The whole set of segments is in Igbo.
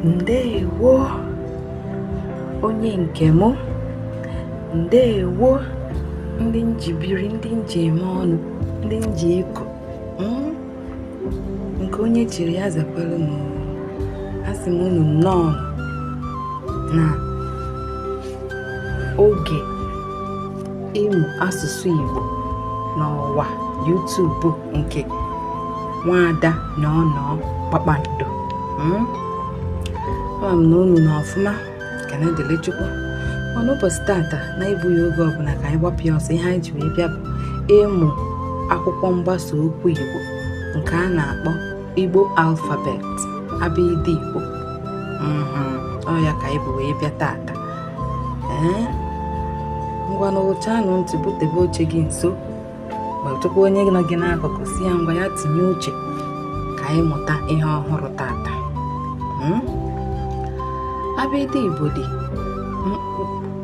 ndewo onye nke m ndewo ndị m ji biri ndị m ji eme ọnụ ndị m ji eko hmm? nke onye chiri ya zakwara m asị m unu nnọọ na oge ịmụ asụsụ Igbo n'ọwa YouTube nke nwaada na ọnọ kpakpando hmm? ama m na unu nọ ọfụma ka na-ekele chukwu mana ụbọchị tata na-egbughị oge ọbụla ka anyị gbapụ ya ọsọ ihe anyị ji wee bịa bụ ịmụ akwụkwọ mgbasa okwu igbo nke a na-akpọ igbo alfabet abịdị igbo hmm, ọ ya ka anyị bu wee bịa tata ee eh? ngwanụ wụchaanụ ntị butebe oche gị nso kpatụkwa onye nọ gị n'akụkụ sị ya ngwa ya tinye uche ka anyị mụta ihe ọhụrụ tata hmm? abịdị igbo dị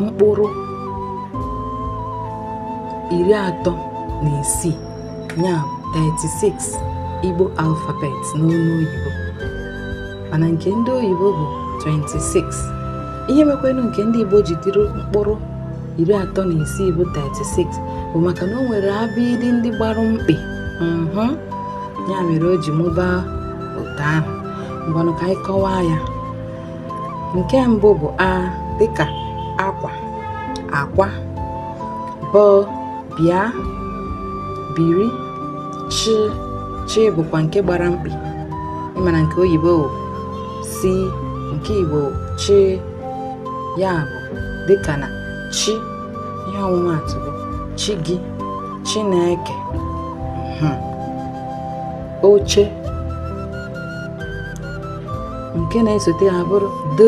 mkpụrụ iri atọ na isii ya 36 igbo alfabet n'olu oyibo mana nke ndị oyibo bụ 26 ihe mekwanụ nke ndị igbo ji dịrị mkpụrụ iri atọ na isii bụ 36 bụ maka na o nwere abịdị ndị gbara mkpị mhm. ya mere o ji mụbaa otu ahụ ngwanụ ka anyị kọwaa ya nke mbụ bụ a dịka akwa akwa b bịa biri chi chi bụkwa nke gbara mkpị ị ma na nke oyibo c nke igbo chi ya bụ dịka na chi ihe ọmụmaatụ bụ chi gị chineke hmm. oche nke na-esote abụrụ d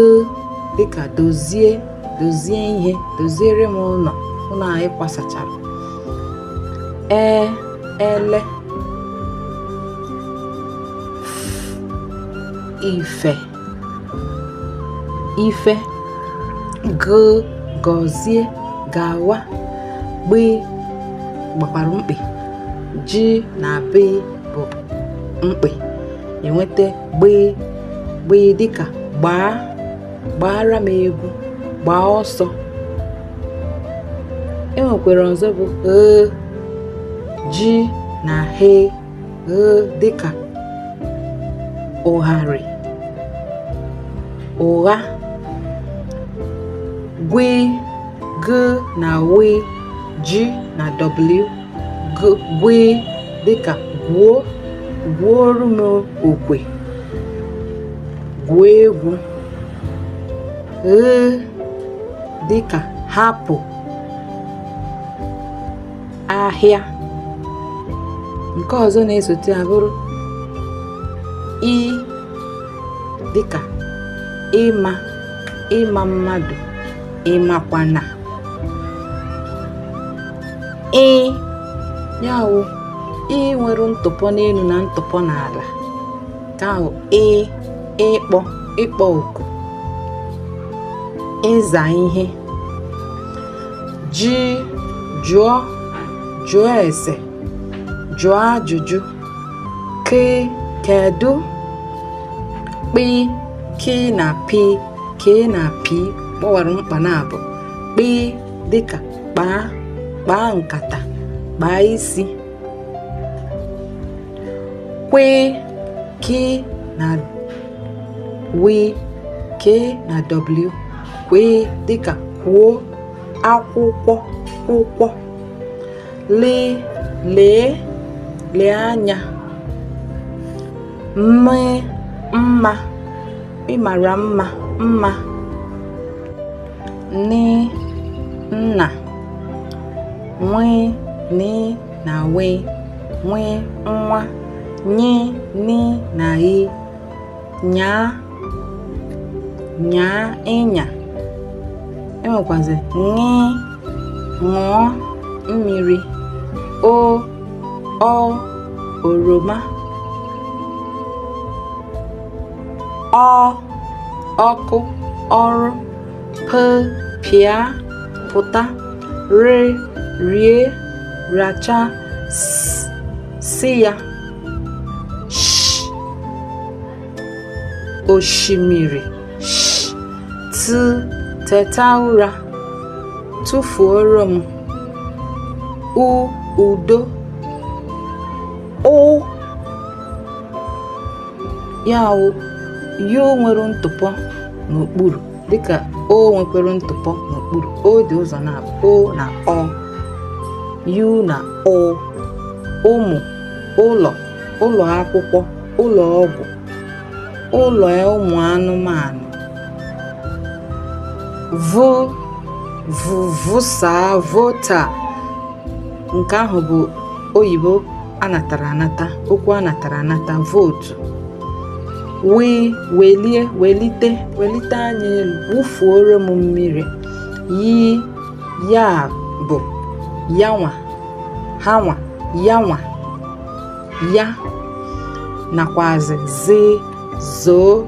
dịka dozie dozie ihe doziere m ụlọ ụlọ anyị kwasachara e ele ife ife g gọzie gawa gb gbakwara mkpị g na b bụ mkpị enweta gb gb dịka gbaa gbaara m egwu gbaa ọsọ e nwekwara ọzọ bụ gh g na h dịka ụgharị ụgha gwe g na we g na w gwe dịka gwuo gwuoro m okwe gwuo egwu he dịka hapụ ahịa nke ọzọ na-esote ya bụrụ i dịka ịma ịma mmadụ ịmakwana ị ya wụ i nwere ntụpọ n'elu na ntụpọ n'ala ka ahụ ị ịkpọ ịkpọ oku ịza ihe ji jụọ jụọ ese jụọ ajụjụ ke kedu kpi ki na pi ke na pi kpọwara mkpa naabọ kpi dịka kpaa kpaa nkata kpaa isi kwe ki na wi ke na w kwi dịka kwuo akwụkwọ akwụkwọ li lee lee anya mi mma ịmara mma mma ni nna nwi ni na wi nwi nwa nyi ni na yi nyaa nyaa ịnya e nwekwazi ṅị ṅụọ mmiri o ọ oroma ọ ọkụ ọrụ p pịa pụta r rie racha s si ya oshimiri t teta ụra tụfuoro m u udo ụ ya wụ yu nwere ntụpọ n'okpuru dịka o nwekwere ntụpọ n'okpuru o dị ụzọ naabọ o na ọ yu na ụ ụmụ ụlọ ụlọ akwụkwọ ụlọ ọgwụ ụlọ ụmụ anụmanụ vo vụsaa vota nke ahụ bụ oyibo anatara anata okwu anatara anata vootu wee welie welite welite anya elu wụfuoro m mmiri yi ya bụ ya nwa ha nwa ya nwa ya nakwazi zi zoo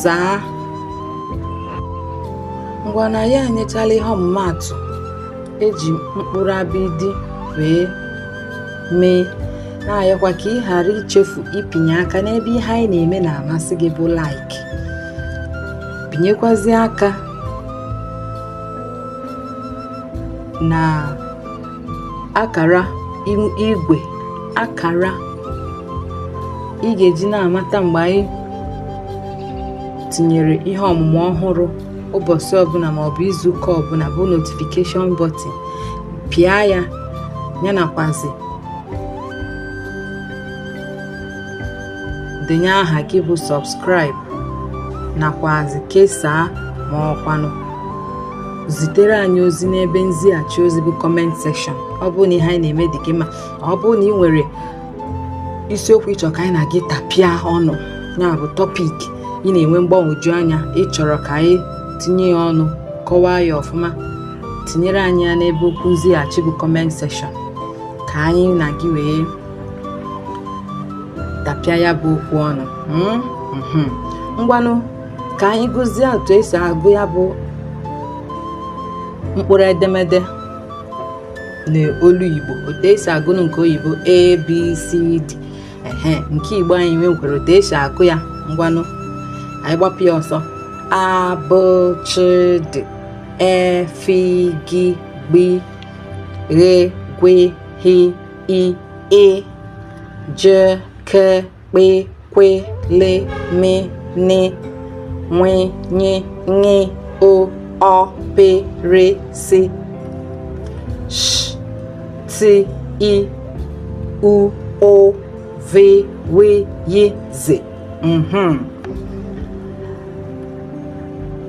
zaa ngwanụ anyị enyechala ihe ọmụmaatụ eji mkpụrụ abịdị wee mee na-ayọkwa ka ị ghara ichefu ịpịnye aka n'ebe ihe anyị na-eme na-amasị gị bụ like pịnyekwazi aka na akara igwe akara ị ga-eji na-amata mgbe anyị tinyere ihe ọmụmụ ọhụrụ ụbọchị ọbụla ma ọ bụ izu ụka ọbụla bụ notification button pịa ya ya nakwazi denye aha gị bụ subscribe nakwazi kesaa ma ọkwanụ zitere anyị ozi n'ebe nzighachi ozi bụ comment section ọ bụrụ na ihe anyị na-eme dị gị mma ọ bụrụ na ị nwere isiokwu ị chọrọ ka anyị na gị tapịa ọnụ ya bụ topic ị na-enwe mgbagwoju anya ị chọrọ ka anyị tinye ya ọnụ kọwaa ya ọfụma tinyere anyị ya n'ebe okwu nzighachi bụ comment section ka anyị na gị wee tapịa ya bụ okwu ọnụ mm, mhm. ngwanụ ka anyị gụzie otu esi agụ ya bụ mkpụrụ edemede n'olu igbo otu esi agụ nke oyibo a b c d ehe nke igbo anyị nwekwara otu esi agụ ya ngwanụ anyị gbapụ ya ọsọ a bị chị dị e fi gi gbi ghe gwe hi i ị je ke kpe kwe le me ne nwe nye nye o ọ pe re si sh ti i u ụ ve we ye ze mhm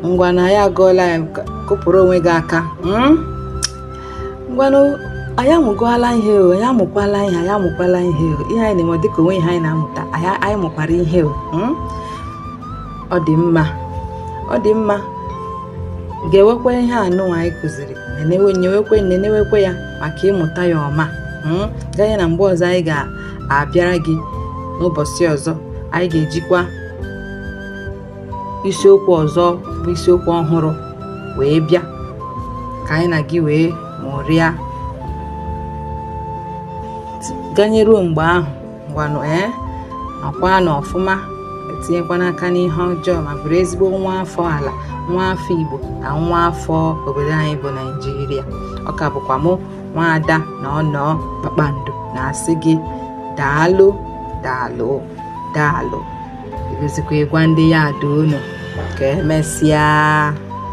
ngwanụ anyị agụọla ya kụpụrụ onwe gị aka mm? ngwanụ anyị amụgọala ihe o anyị amụkwala ihe anyị amụkwala ihe o ihe anyị na-eme ọ dịka o nwee ihe anyị na-amụta anyị anyị mụkwara ihe o mm? ọ dị mma ọ dị mma ga-ewekwa ihe a nụnwa anyị kụziri nenewe nyewekwe nenewekwe ya maka ịmụta ya ọma mm? ganye na mgbe ọzọ anyị ga-abịara gị n'ụbọsị ọzọ anyị ga-ejikwa isiokwu ọzọ bụ isiokwu ọhụrụ wee bịa ka anyị na gị wee mụrịa ganyeruo mgbe ahụ ngwanụ ee akwa nọ ọfụma etinyekwana aka n'ihe ọjọọ ma bụrụ ezigbo nwa afọ ala nwa afọ igbo na nwa afọ obodo anyị bụ naijiria ọ ka bụkwa mụ nwaada na ọnọ kpakpando na-asị gị daalụ daalụ daalụ Ebezikwa ịgwa ndị ya ada unu ka emesịa.